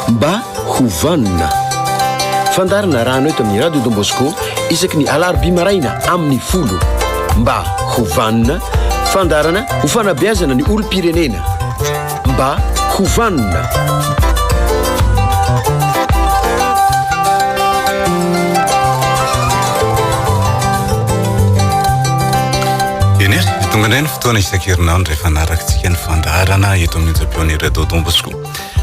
Mba ho vanona. Fandaharana rano eto amin'ny Radio Don Bosco isaky ny alarobia maraina amin'ny folo. Mba ho vanona. Fandaharana ho fanabeazana ny olom-pirenena. Mba ho vanona. Tonga indray ny Fotoana isan-kerinandro rehefa anarakintsika ny fandaharana eto amin'ny Onja Pionnier Radio Don Bosco.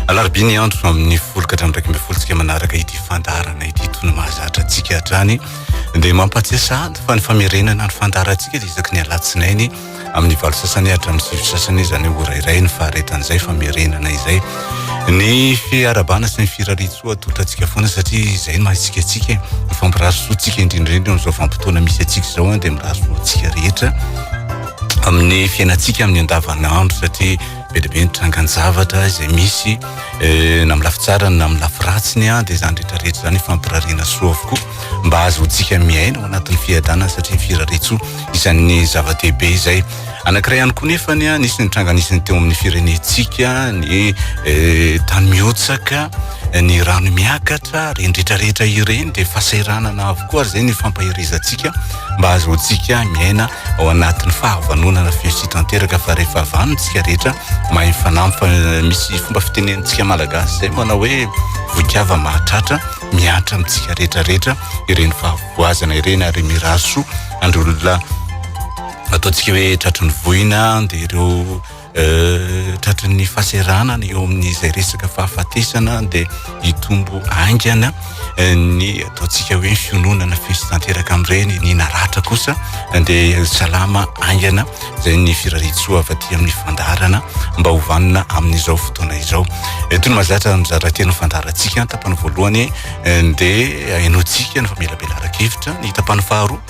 Alarobia ny andro amin'ny folo ka hatramin'ny iraika ambin'ny folo tsika manaraka ity fandaharana ity toy ny mahazatra antsika hatrany. Dia mampahatsiahy sahady fa ny famerenana ny fandaharantsika dia isaky ny alatsinainy amin'ny valo sasany hatramin'ny sivy sasany izany ora iray ny faharetan'izay famerenana izay. ny fiarabana sy ny firariantsoa totrantsika foana satria izay no mahatsika atsika ny fampirary soantsika indrindrindra eo amin'izao vanim-potoana misy atsika izao an dia mirary soantsika rehetra amin'ny fiainantsika amin'ny andavanandro satria be dia be ny trangan-javatra izay misy eh, na amin'ny lafy tsarany na amin'ny lafy ratsiny an dia izany rehetrarehetra izany fampirariana soa avokoa mba ahazoantsika miaina ao anatin'ny fiadanana satria firariantsoa isan'ny zava-dehibe izay Anankiray ihany koa nefany a, nisy ny tranga nisy ny teo amin'ny firenentsika, ny eh, tany mihotsaka, ny rano miakatra, ireny rehetrarehetra ireny dia fahasahiranana avokoa ary izay ny fampaherezantsika mba hahazoantsika miaina ao anatin'ny fahavanonana fihesy tanteraka fa rehefa vanintsika rehetra mahay fanampy fa eh, misy fomba fitenenantsika malagasy izay manao hoe voikava mahatratra miantra amintsika rehetrarehetra ireny fahavoazana ireny ary mirary soa andry olona Ataontsika hoe tratry ny voina dia ireo tratry ny fahaseranana eo amin'izay resaka fahafatesana dia hitombo aingana ny ataontsika hoe fiononana fisy tanteraka amin'ireny ny naratra kosa dia salama aingana izay ny firaritsoa avy aty amin'ny fandaharana mba ho vanona amin'izao fotoana izao eto ny mazatra mizara teny fandaharantsika tapany voalohany dia ainoantsika ny famelabelarana kevitra ny tapany faharoa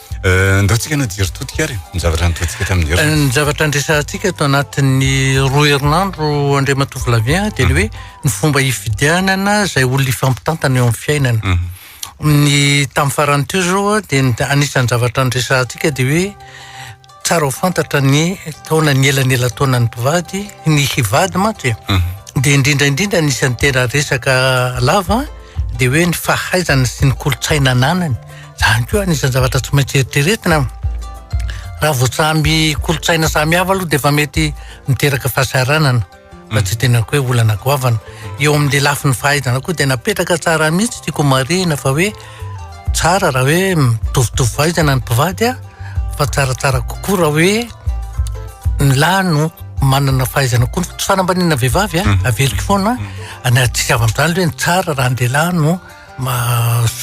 Eh, ndao tsika najery totika ary ny zavatra nataontsika tamin'ny herinandro. Eh, ny zavatra andresantsika ato anatin'ny roa herinandro Andriamatoa Flavien dia ny hoe ny fomba hifidianana izay olona ifampitantana eo amin'ny fiainana. Mhm. Ny tamin'ny farany teo izao dia anisan'ny zavatra andresantsika dia hoe Tsara ho fantatra ny taona ny elanelan-taonan'ny mpivady, ny hivady mantsy e. Mhm. Dia indrindra indrindra ny isan'ny tena resaka lava dia hoe ny fahaizana sy ny kolontsaina ananany. Izany koa anisan'ny zavatra tsy maintsy eritreretina. Raha voatsamby kolontsaina samihafa aloha dia efa mety miteraka fahasahiranana. Raha tsy teneniko hoe olana goavana. Eo amin'ilay lafiny fahaizana koa dia napetraka tsara mihitsy tiako homarihina fa hoe tsara raha hoe mitovitovy fahaizana ny mpivady an, fa tsaratsara kokoa raha hoe ny lahy no manana fahaizana kokoa. Ny fanambaniana vehivavy an, mhm. averiko foana, mhm. na tsy avy amin'izany hoe ny tsara raha ny lehilahy no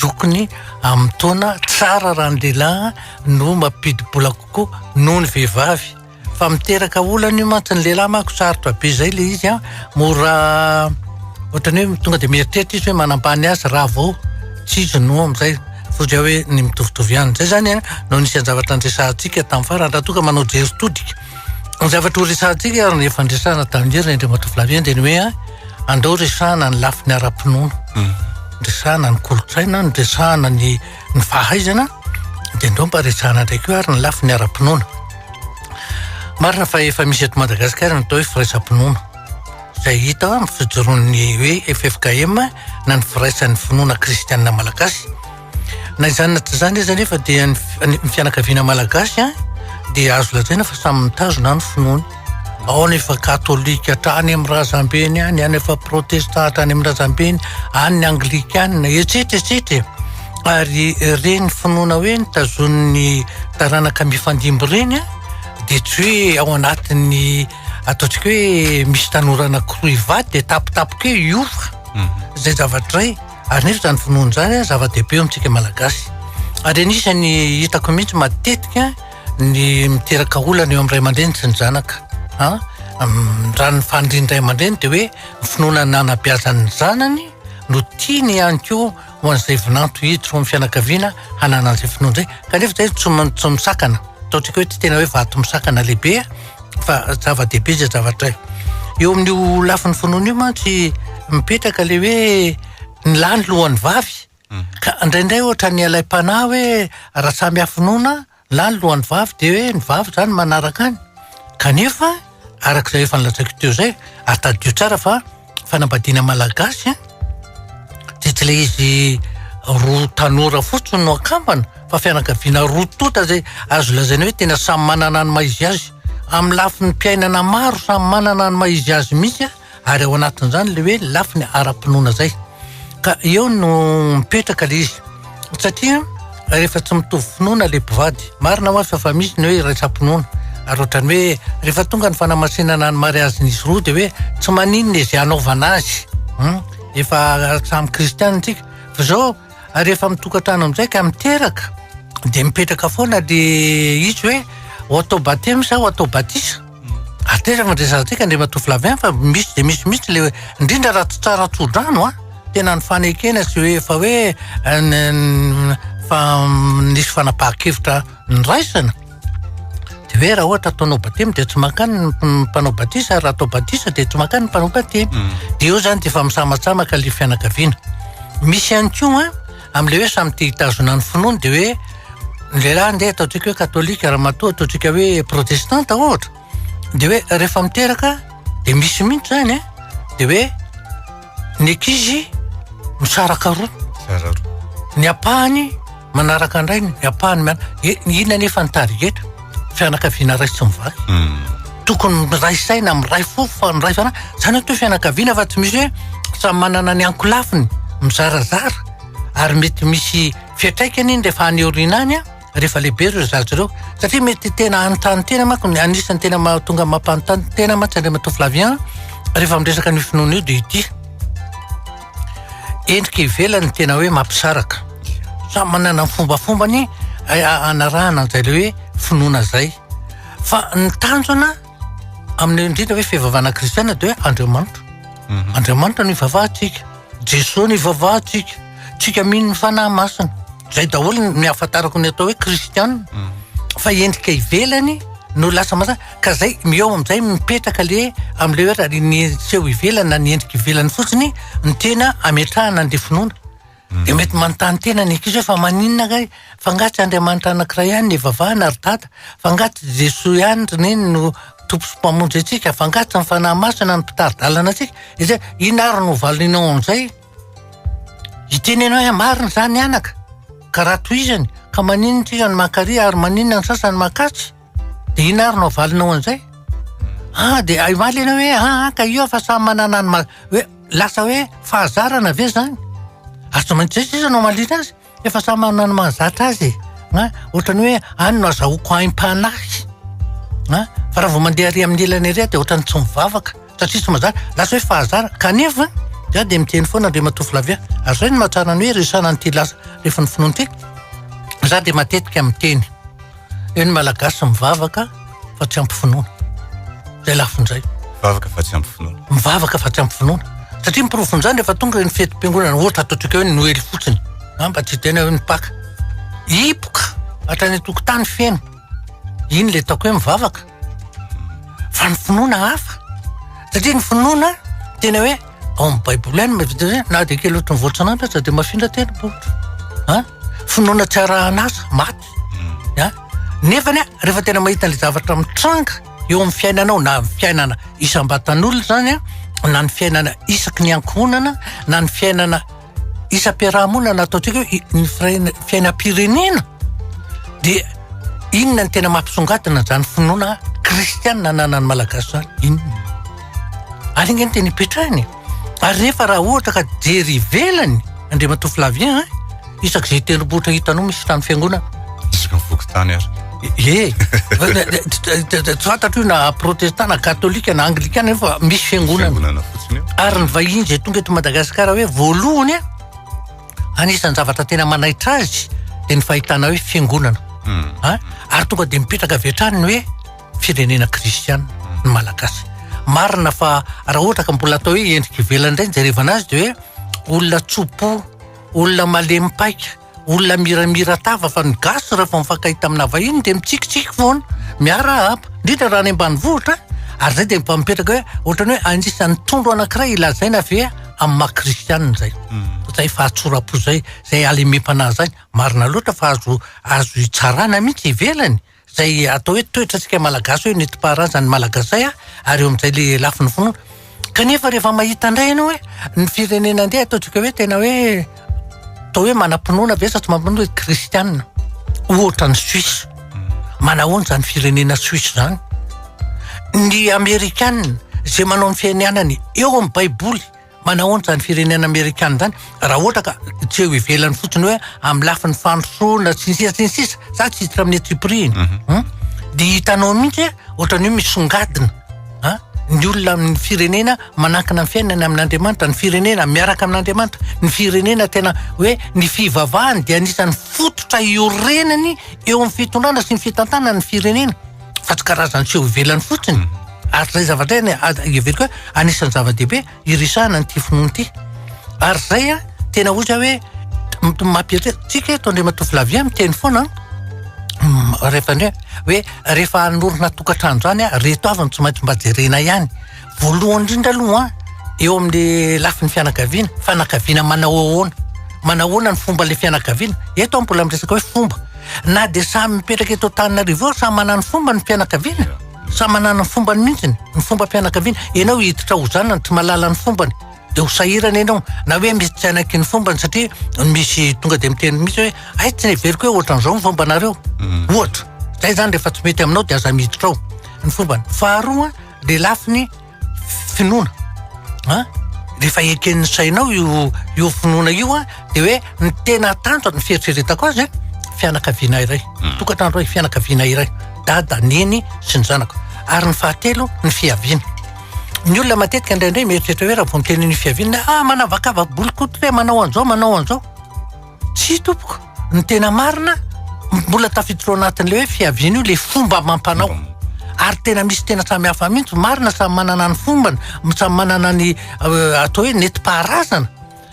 zokiny amin'ny taona, tsara raha ny lehilahy no mampidi-bola kokoa noho ny vehivavy. Fa miteraka olana io mantsy ny lehilahy manko sarotra be zay le izy an, mora ohatran'ny hoe tonga de mieritreritra izy hoe manambany azy raha vao tsy izy no amizay fozia hoe ny mitovitovy ihany, zay zany an no anisan'ny zavatra niresahantsika tamin'ny farany raha toa ka manao jery todika ny zavatra ho resahantsika ary ny efa niresahana tamin'i hery indray matoa Flavien dia ny hoe an andao resahana ny lafiny ara-pinoana, resahana ny kolontsaina, resahana ny. ny fahaizana dia andao mba resahana indray koa ary ny lafiny ara-pinoana. Marina fa efa misy eto Madagasikara ny atao hoe firaisam-pinoana izay hita amin'ny fijoroan'ny hoe FFKM na ny firaisan'ny finoana kristianina malagasy. Na izany na tsy izany aza nefa dia ny fianakaviana malagasy dia azo lazaina fa samy mitazona ny finoany. ao nefa katolika hatrany amin'ny razambeny any, any efa protestant hatrany amin'ny razambeny, any ny anglikana, etsetra etsetra ary ireny finoana hoe ny tazonin'ny taranaka mifandimby ireny a dia tsy hoe ao anatin'ny ataontsika hoe misy tanora anankiroa hivady dia tapitapika hoe hiova mhm. izay zavatra iray ary nefa izany finoana izany a zava-dehibe eo amintsika malagasy ary anisany hitako mihitsy matetika Ny miteraka olana eo amin'ny ray aman-dreny sy ny zanaka an, raha ny fanirian'ny ray aman-dreny dia hoe ny finoana ny nanabeazan'ny zanany no tiany ihany koa ho an'izay vinanto hiditra ao amin'ny fianakaviana hanana an'izay finoana izay kanefa izay tsy m- tsy misakana atao tsika hoe tsy tena hoe vato misakana lehibe fa zava-dehibe izay zavatra eo amin'io lafiny finoana io mantsy mipetraka ilay hoe ny lahy ny lohan'ny vavy Ka indraindray ohatran'ny ilay mpanahy hoe raha samy hafinona na ny lohan'ny vavy dia hoe ny vavy izany manaraka any. Kanefa araka izay efa nolazaiko teo izay ary tadidio tsara fa fanambadiana malagasy dia tsy ilay izy roa tanora fotsiny no akambana fa fianakaviana roa tonta izay azo lazaina hoe tena samy manana ny maha izy azy. Amin'ny lafiny mpiainana maro samy manana ny maha izy azy mihitsy. ary ao anatin'izany ilay hoe lafiny ara-pinoana izay ka eo no mipetraka ilay izy satria rehefa tsy mitovy finoana ilay mpivady marina ho aza fa misy ny hoe iraisam-pinoana ary ohatrany hoe rehefa tonga ny fanamasinana ny mariazy nisy roa dia hoe tsy maninona izay anaovana azy hmm? efa samy kristiana antsika fa izao rehefa mitokantrano amin'izay ka miteraka dia mipetraka foana le izy hoe ho atao batemy sa ho atao batisa Ateza mandresaka antsika Andriamatoa Flavien fa misy dia misy mihitsy le indrindra raha tsy tsara tsodrano a ah. tena ny fanekena sy hoe efa hoe eh, fa nisy fanapahan-kevitra niraisana de hoe raha ohatra ataonao batemy dia tsy mankany ny mpanao batisa raha atao batisa dia tsy mankany ny mpanao batemy mm. dia eo zany dia efa misamatsamaka le fianakaviana misy ihany koa a Amin'ilay hoe samy tia hitazona ny finoany dia hoe ny lehilahy andeha ataontsika hoe katolika, ramatoa ataontsika hoe protestanta ohatra, dia hoe rehefa miteraka dia misy mihitsy izany an, dia hoe ny ankizy misaraka roa, Mizara roa. ny ampahany manaraka ny rainy, ny ampahany, inona anefa ny target? fianakaviana ray sy mivady tokony miray saina miray fo fa miray fana zany atao fianakaviana fa tsy misy hoe samy manana ny ankolafiny mizarazara ary mety misy fiatraikany iny rehefa any aoriana any a rehefa lehibe ireo zaza ireo satria mety tena hanontany tena manko ny anisan'ny tena mahatonga mampanontany tena mantsy andriamatoa Flavien rehefa miresaka an'io finoana io dia ity endrika ivelany tena hoe mampisaraka samy manana ny fombafombany eh, anarahana an'izay le hoe finoana zay fa ny tanjona amin'ny indrindra hoe fivavahana kristiana de hoe andriamanitra mhm. andriamanitra no ivavahantsika jesoa no ivavahantsika tsika mino ny fanahy masina zay daholo ny afantarako ny atao hoe kristiana mhm. fa endrika ivelany no lasa masina Ka zay mi ao amizay mipetraka le amle oe raha ny seho ivelany na ny endrika ivelany fotsiny no tena ametrahana anle finoana de mety manontany tena ny ankizy oe fa maninona kay fa nga tsy Andriamanitra anakiray ihany no ivavahana ry dada fa nga tsy Jesoa ihany ry neny no Tompo sy Mpamonjy antsika fa nga tsy ny Fanahy Masina no mpitari-dalana antsika de zay inona ary no hovalinao amizay hiteny anao oe marina zany anaka ka raha tohizany ka maninona tsika no mankaria ary maninona ny sasany mankatsy. Dia inona ary no avalinao an'izay? Ah, dia ay omaly ianao hoe ah, ah, ka io fa samy manana ny ma- hoe lasa hoe fahazarana ve izany? Ary tsy maintsy izay sisa no hamaliana azy, efa samy manana ny mahazatra azy e. An, ohatran'ny hoe any no azahoako aim-panahy. An, fa raha vao mandeha ary amin'ny ilany ary aho dia ohatran'ny tsy mivavaka satria tsy mahazatra, lasa hoe fahazarana. Kanefa, za dia miteny foana Andriamatoa Flavien, ary izay no mahatsara ny hoe resahana an'ity lasa rehefa ny finoana ity, za dia matetika miteny. Eo ny Malagasy mivavaka fa tsy ampy finoana. Izay lafiny izay. Mivavaka fa tsy ampy finoana. Mivavaka fa tsy ampy finoana. Satria ny porofon'izany rehefa tonga eo ny fetim-piangonana, ohatra ataontsika eo ny Noely fotsiny, na mba tsy tena eo ny Paka. Hipoka hatrany an-tokotany feno. Iny ilay ataoko hoe mivavaka. Fa ny finoana hafa. Satria ny finoana tena hoe ao amin'ny Baiboly ihany mahavita hoe na dia kely ohatry ny voatsinanana aza dia mafindra teny boky. Finoana tsy arahan'asa, maty. a nefa ny a rehefa tena mahita ilay zavatra mitranga eo amin'ny fiainanao na ny fiainana isam-batan'olona zany a na ny fiainana isaky ny ankohonana na ny fiainana isam-piarahamonana ataontsika hoe ny firaina- fiainam-pirenena de inona ny tena mampisongadina zany finoana kristianina ananan'ny malagasy zany inona ary anie ny tena ipetrahany e Ary nefa raha ohatra ka jery ivelany Andriamatoa Flavien an, isak'izay tendrombohitra hitanao misy trano fiangonana. Isaka ny fokontany ary. Ie, tsy fantatro io na protestant na katolika na anglikana io fa misy fiangonana. Fiangonana fotsiny io. Ary ny vahiny izay tonga eto Madagasikara hoe voalohany an, anisan'ny zavatra tena manaitra azy dia ny fahitana hoe fiangonana. Ary tonga dia mipetraka avy hatrany ny hoe. firenena kristiana ny malagasy marina fa raha ohatra ka mbola atao hoe endrika ivelany indray ny jerevana azy de hoe olona tsopo olona malemy paika olona miramira tava fa ny gasy rehefa mifankahita tamina vahiny de mitsikitsiky foana miara haba indrindra raha any ambanivohitra ary zay de mpamipetraka hoe ohatrany hoe anisan'ny tondro anankiray ilazaina ve amin'ny maha kristiana zay hmm. zay fahatsorapo zay zay alemem-panahy zay marina loatra fa azo azo hitsarana mihitsy ivelany Izay atao hoe toetra tsika malagasy hoe netim-paharazan' ny malagasay a, ary eo amin'izay le lafiny finoana. Kanefa rehefa mahita indray ianao hoe ny firenena andeha ataontsika hoe tena hoe atao hoe manam-pinoana ve sa tsy manam-pinoana hoe kristiana. Ohatra ny Suisse. Manahoana izany firenena Suisse izany? Ny amerikana izay manao ny fianianany eo amin'ny baiboly. Manahoana izany firenena amerikana izany raha ohatra ka tsy eo ivelany fotsiny hoe amin'ny lafiny fandrosoana sy ny sisa sy ny sisa za tsy hiditra amin'ny antsipirihiny mhm. hmm? dia hitanao mihitsy ohatrany hoe misongadina a ny olona amin'ny firenena manankina ny fiainana amin'andriamanitra ny firenena miaraka amin'andriamanitra ny firenena tena hoe ny fivavahany dia anisan'ny fototra iorenany eo amin'ny fitondrana sy ny fitantanany firenena Fa tsy karazan'ny seho ivelany fotsiny, ary izay zavatra izay azo heveriko hoe anisan'ny zava-dehibe hiresahana an'ity finoana ity. Ary izay an, tena hoy za hoe mampieritreritra tsika eto Andriamatoa Flavien miteny foana rehefa hoe rehefa hanorina tokantrano izany reto avy no tsy maintsy mba jerena ihany. Voalohany indrindra aloha eo amin'ny lafiny fianakaviana, fianakaviana manao ahoana? Manao ahoana ny fomba ilay fianakaviana? Eto aho mbola miresaka hoe fomba. Na dia samy mipetraka eto Antananarivo eo, samy manana ny fombany ny fianakaviana, samy manana ny fombany mihitsy ny fombam-pianakaviana. Ianao hiditra ho zanany tsy mahalala ny fombany, dia ho sahirana ianao. Na hoe misy tsy hanaiky ny fombany satria misy tonga dia miteny mihitsy hoe hay tsy neveriko hoe ohatran'izao ny fombanareo. Ohatra. Izay izany rehefa tsy mety aminao dia aza miditra ao ny fombany. Faharoa. ny lafiny finoana an rehefa eken'ny sainao io io finoana io an de hoe ny tena tanjo ny fieritreretako azy an fianakaviana iray hmm. tokantrano iray fianakaviana iray dada neny sy ny zanako ary ny fahatelo ny fiaviana ny olona matetika indraindray mieritreritra hoe raha vao miteny ny fiaviana ah manavakavaka bolikoty hoe manao an'izao manao an'izao Tsia tompoko, ny tena marina mbola tafiditra ao anatin'ilay hoe fiaviana io ilay fomba amam-panao. Mm. Ary tena misy tena samy hafa mihitsy, marina samy manana ny fombany, samy manana ny euh, atao hoe nentim-paharazana.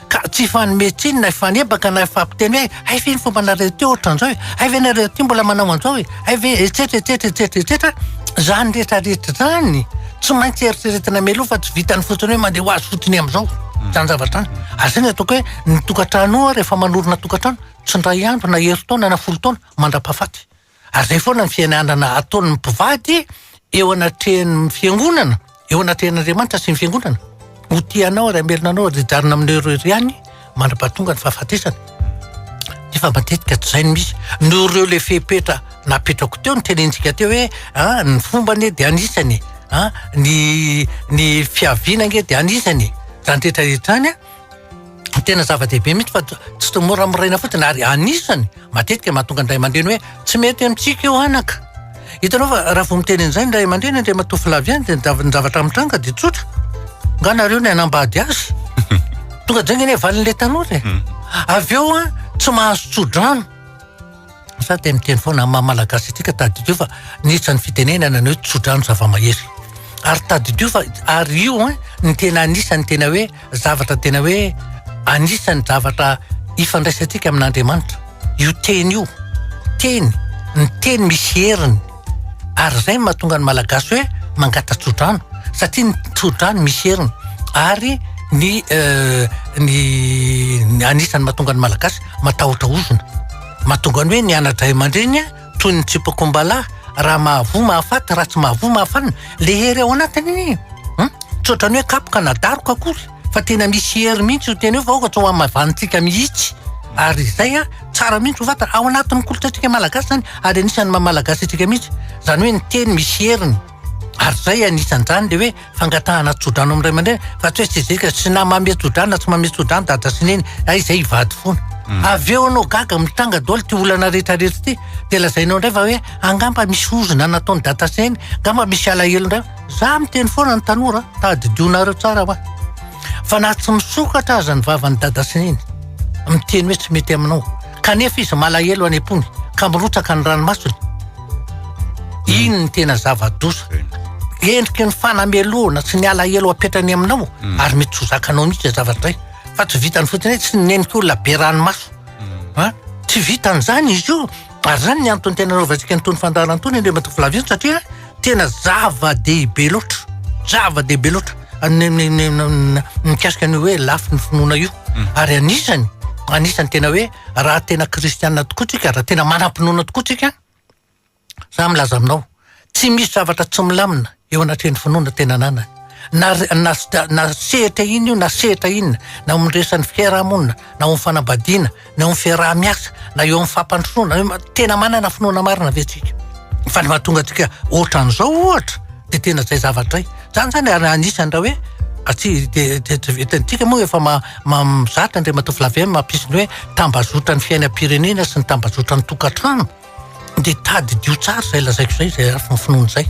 Ka tsy fanome tsiny na hifanebaka na hifampiteny hoe hay ve ny fomba nareo teo ohatran'izao e, hay ve nareo aty mbola manao an'izao e, hay ve etsetra etsetra etsetra etsetra, izany rehetrarehetra izany tsy maintsy eritreretina mialoha fa tsy vitany fotsiny hoe mandeha ho azy fotsiny amin'izao. Izany zavatra izany. Ary izay ny ataoko hoe Ny tokantranonao ary efa manorina tokantrano tsy indray andro na herintaona na folo taona mandrapahafaty. Ary izay foana ny fiainanana ataon'ny mpivady eo anatrehan'ny fiangonana, eo anatrehan'Andriamanitra sy ny fiangonana. Ho tia anao ary hamelona anao ary hijanona aminao irery ihany mandrapahatonga ny fahafatesana. Nefa matetika tsy izay no misy. Noho ireo ilay fepetra napetrako teo ny tenenintsika teo hoe ah, ny fomba anie dia anisany, ah, ny ny fiaviana ange dia anisany. Izany rehetra rehetra izany an. Tena zava-dehibe mihitsy fa tsy toy mora moraina fotsiny ary anisany matetika ny mahatonga ny ray aman-dreny hoe tsy mety amintsika io anaka. Hitanao fa raha vao miteny an'izay ny ray aman-dreny indray matoa filavy ihany dia ny zavatra mitranga dia tsotra. Nga nareo ny hanambady azy. Tonga dia zay anie valin'ilay tanora e. Hmm. Avy eo an, tsy mahazo tso-drano. Sa te miteny foana amin'ny maha malagasy antsika tadidio fa nihitsa ny fitenenana ny hoe tsodrano zava-mahery. Ary tadidio fa ary io hein ny tena anisan'ny tena hoe zavatra tena hoe anisan'ny zavatra ifandraisantsika amin'Andriamanitra. Io teny io. Teny, ny teny misy heriny. ary izay no mahatonga ny malagasy hoe mangata-tsodrano satria ny tsodrano misy heriny ary ny euh, ny ny anisan'ny mahatonga ny malagasy matahotra ozona mahatonga ny hoe ny anadray aman-dreny toy ny tsipakombalahy raha mahavoa mahafaty raha tsy mahavoa mahafanina le hery ao anatiny iny hmm? tsodrano hoe kapoka na daroka akory fa tena misy hery mihitsy io tena io fa aoka tsy ho amin'ny maivanintsika mihitsy ary izay a tsara mihitsy ho fantatra ao anatin'ny kolontsaintsika malagasy zany ary anisan'ny maha malagasy antsika mihitsy zany hoe ny teny misy heriny ary izay anisan'izany le hoe fangatahana tso-drano amin'ny ray aman-dreny fa tsy hoe sezika sy na mame tso-drano na tsy mame tso-drano dada sy neny hay izay hivady foana avy eo anao gaga mitanga daholo ty olana rehetra rehetra ty dia lazainao indray fa hoe angamba misy ozona nataon'i dada sy neny angamba misy alahelo indray Za miteny foana ny tanora, tadidianareo tsara wa. Fa na tsy misokatra aza ny vavan'i dada sy neny, miteny hoe tsy mety aminao, kanefa izy malahelo any am-pony, ka mirotsaka ny ranomasony. Iny ny tena zava-doza. Endriky ny fanamelohana sy ny alahelo apetrany aminao, mm. ary mety tsy zakanao mihitsy izay zavatra izay. Fa tsy vitany fotsiny hoe tsy neniko olona be ranomaso. Mm. Tsy vitan'izany izy io. Ary izany ny antony tena anaovantsika an'itony fandaharana itony Andriamatoa Flavien satria tena zava-dehibe loatra, zava-dehibe loatra ny ny ny ny mikasika ny hoe lafiny finoana io. Ary anisany, anisany tena hoe raha tena kristiana tokoa tsika, raha tena manam-pinoana tokoa tsika, za milaza aminao, Tsy misy zavatra tsy milamina eo anatrehan'ny finoana tena ananany. Na, na, na sehatra inona io na sehatra inona, na eo amin'ny resan'ny fiarahamonina, na eo amin'ny fanambadiana, na eo amin'ny fiaraha-miasa, na eo amin'ny fampandrosoana, na eo, tena manana finoana marina ve tsika? Fa ny mahatonga antsika ohatran'izao ohatra dia tena izay zavatra izay. Izany izany ary anisan'ny raha hoe aty dia dia tsy vitantsika moa efa ma, ma, mizatra Andriamatoa Flavien mampisy ny hoe tambazotran'ny fiainam-pirenena sy ny tambazotran'ny tokantrano. dia tadidio tsara izay lazaiko izay izay lafiny finoana izay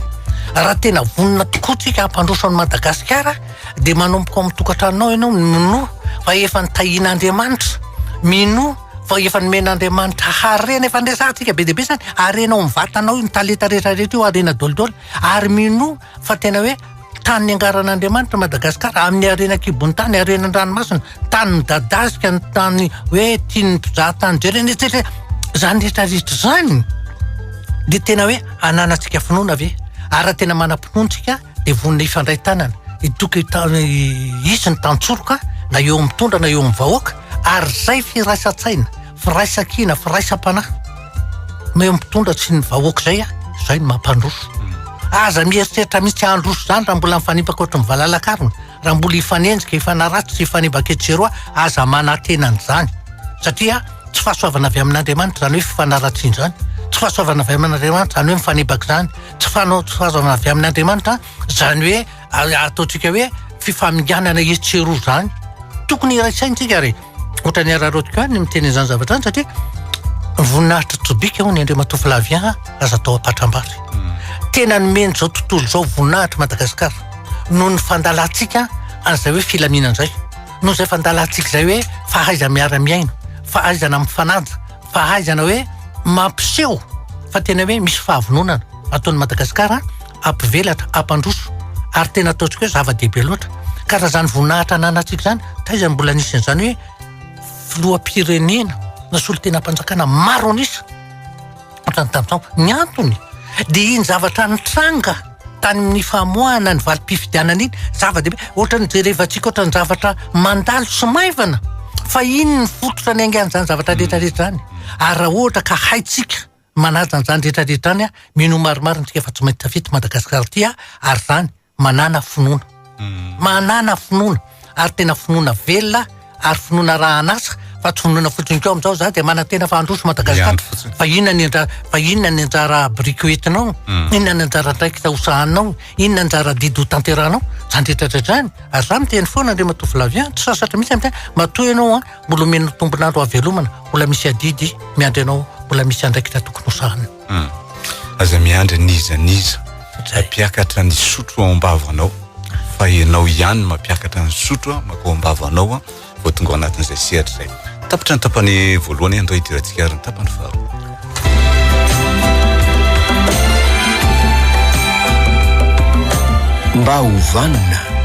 raha tena vonona tokoa tsika hampandroso an'i madagasikara dia manomboka ao amin'ny tokantranonao ianao ny minoa fa efa ny tahian'andriamanitra minoa fa efa nomen'andriamanitra harena efa nresahantsika be dia be izany harena ao amin'ny vatanao io ny talenta rehetra rehetra io harena dolidoly ary minoa Fa tena hoe tany niangaran'Andriamanitra Madagasikara, amin'ny harena an-kibon'ny tany, harena an-dranomasina, tany midadasika, ny tany hoe tian'ny mpizahatany dry ireny etsy etsy. Izany rehetra rehetra izany dia tena hoe ananantsika finoana ve? Ary raha tena manam-pinoana isika dia vonona hifandray tanana, hitoky hisy ny tantsoroka na eo amin'ny mpitondra na eo amin'ny vahoaka ary izay firaisan-tsaina. Firaisankina, firaisam-panahy no mitondra tsy ny vahoaka izay a, izay no mampandroso. Aza mieritreritra mihitsy handroso izany raha mbola mifanimbaka ohatry ny valalakarona, raha mbola hifanenjika, hifanaratsy sy hifanimbaka etsy sy eroa, aza manantena an'izany satria tsy fahasoavana avy amin'Andriamanitra izany hoe fifanaratsiana izany, tsy fahasoavana avy amin'Andriamanitra izany hoe mifanimbaka izany, tsy fanao- tsy fahasoavana avy amin'Andriamanitra izany hoe. ary ataontsika hoe fifaminganana etsy sy eroa izany. Tokony iray saintsika ary ohatra ny araraotiko any miteny izany zavatra any satria voninahitra tsobika hono Andriamatoa Flavien aza atao ampatrambary. Hmm. Tena nomeny izao tontolo izao voninahitra Madagasikara noho ny fandalantsika an'izay hoe filaminana izay. Noho izay fandalantsika izay hoe fahaiza miara-miaino, fahaizana mifananja, fahaizana hoe mampiseho fa tena hoe misy fahavononana ataon'i Madagasikara hampivelatra, hampandroso ary tena ataontsika hoe zava-dehibe loatra. Ka raha izany voninahitra ananantsika izany, taiza no mbola nisy an'izany hoe filoham-pirenena na solontenam-panjakana maro an'isa ohatrany tamin'izao. Ny antony dia iny zavatra nitranga tany amin'ny famoahana ny valim-pifidianana iny, zava-dehibe. Ohatrany jerevantsika ohatrany zavatra mandalo sy maivana fa iny ny fototra niaingan'izany zavatra rehetrarehetra izany. Ary raha ohatra ka haintsika Manaja an'izany rehetra rehetra izany aho, mino ho maromaro antsika fa tsy maintsy tafita i Madagasikara ity aho ary izany manana finoana. Manana finoana ary tena finoana velona ary finoana arahan'asa fa tsy finoana fotsiny koa amin'izao za dia manantena fa handroso Madagasikara fa inona ny anjara fa inona ny anjara biriky ho entinao, inona ny anjara andraikitra ho sahaninao, inona ny anjara adidy ho tanterahinao, izany rehetra rehetra izany ary za miteny foana Andriamatoa Flavien tsy sasatra mihitsy aho miteny matoa ianao an. Mbola omena tombon'andro hahavelomana, mbola misy adidy miandry anao, mbola misy andraikitra tokony hosahana. Hmm. Aza miandry n'iza n'iza mampiakatra ny sotro ao am-bavanao fa ianao ihany mampiakatra ny sotro makao am-bavanao vao tonga ao anatin'izay sehatra izay. Tapitra ny tapany voalohany andao hidirantsika ary ny tapany faharoa. Mba ho vanona.